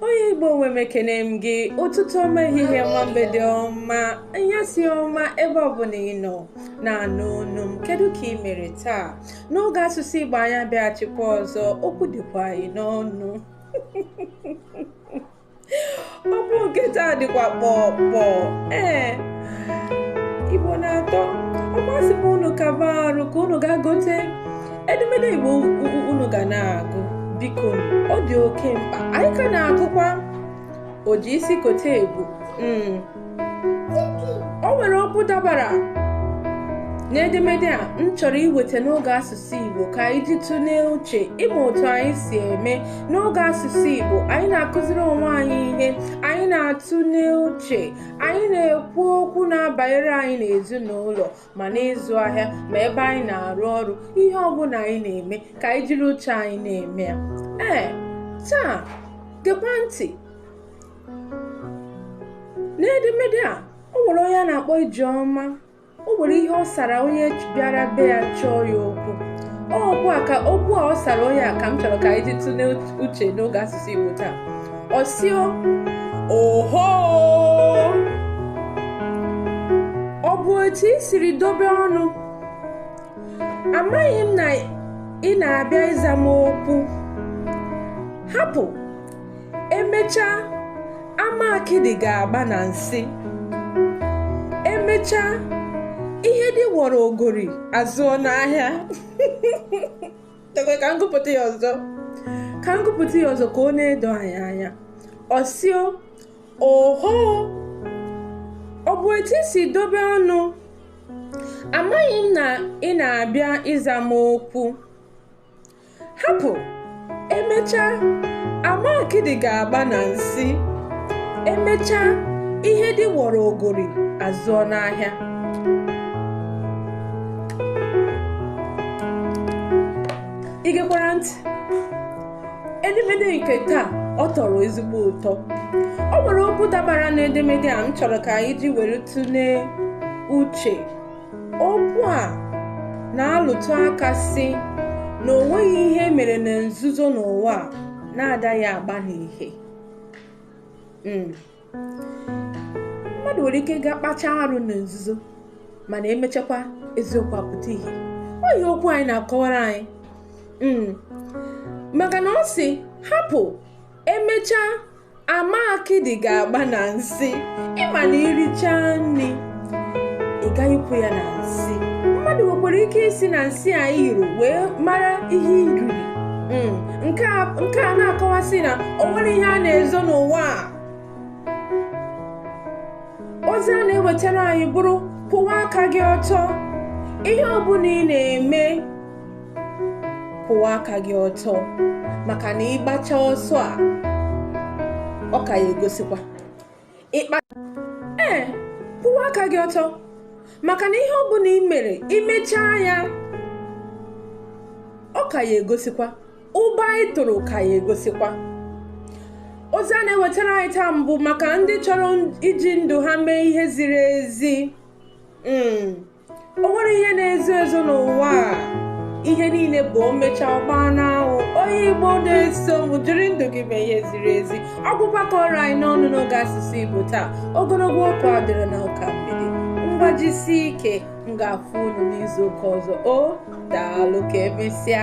onye igbo nwe m ekene m gị ụtụtụ ọma ehihie ọma mgbede ọma anyasị ọma ebe ọbụla ị nọ na-anụ olu m kedu ka ị mere taa n'oge asụsụ igbo anyị abịaghachikwa ọzọ okwu dịkwa anyị n'ọnụ okwu nke taa dịkwa kpọ kpọ ee igbo na-atọ ọ kwa asị m unu kaba arụ ka unu ga gote edemede igbo unu ga na-agụ biko ọ dị oke mkpa anyị ka na-agụkwa oji isi kote ebu hmm. o nwere okwu dabara n'edemede a m chọrọ iweta n'oge asụsụ Igbo ka anyị ji tụlee uche ị ma otu anyị si eme n'oge asụsụ Igbo anyị na-akụziri onwe anyị ihe anyị na-atụle uche anyị na-ekwu okwu na-abanyere anyị n'ezinụlọ ma n'ịzụ ahịa ma ebe anyị na-arụ ọrụ ihe ọ bụla anyị na-eme ka anyị jiri uche anyị na-eme ya ee taa gekwa ntị n'edemede a o nwere onye a na-akpọ ijeọma o nwere ihe ọ sara onye bịara be ya chọọ ya okwu okwu a ọ sara onye a ka m chọrọ ka anyị ji tụlee uche n'oge asụsụ igbo taa ọ sị oho ọ bụ otu i siri dobe ọnụ amaghị m na ị na-abịa ịza m okwu hapụ emechaa ama akịdị ga-agba na nsị emechaa ihe di wọrọ ogori azụọ n'ahịa ka m gụpụta ya ọzọ ka m gụpụta ya ọzọ ka ọ na-edo anyị anya ọ sị oho ọ bụ etu i si dobe ọnụ amaghị m na ị na-abịa ịza m okwu hapụ emechaa ama akịdị ga-agba na nsị emechaa ihe di wọrọ ogori azụọ n'ahịa ị gekwara ntị edemede nke taa ọ tọrọ ezigbo ụtọ ọ nwere okwu dabara n'edemede a m chọrọ ka anyị ji were tụlee uche Okwu a na-alụtụ aka sị na o nweghị ihe mere na nzuzo n'ụwa na-adaghị agba n'ihe hmm. mmadụ nwere ike ga kpacha arụ na nzuzo mana emechakwa eziokwu apụta ihe ọ ihe okwu anyị na-akọwara anyị hmm. maka na ọ sị hapụ emechaa ama akịdị ga-agba na nsị ị ma na i richa nri ị ga-ahụkwu ya na nsị mmadụ nwekwara ike isi na nsị a nyụrụ wee mara ihe i riri hmm, nke a na-akọwasị na o nwerọ ihe a na-ezo n'ụwa a ozi a na-ewetara anyị bụrụ kwụwa aka gị ọtọ ihe ọ bụla ị na-eme kwụwa aka gị ọtọ maka na ị gbacha ọsọ a ọ ka ya egosikwa ee kwụwa aka gị ọtọ maka na ihe ọ bụla ị mere i mechaa ya ọ ka ya egosikwa ụba ị tụrụ ka ya egosikwa ozi a na-ewetara anyị taa bụ maka ndị chọrọ iji ndụ ha mee ihe ziri ezi hmm. o nwerọ ihe na-ezo ezo n'ụwa a ihe niile bụ o mechaa ọ gbaa n'anwụ onye igbo na-eso m jiri ndụ gị mee ihe ziri ezi ọ bụkwa ka ọ ra anyị n'ọnụ n'oge asụsụ igbo taa ogologo okwu adịrọ na ụka mgbede ngwa jisi ike m ga-afụ unu n'izu ụka ọzọ o daalụ ka emesịa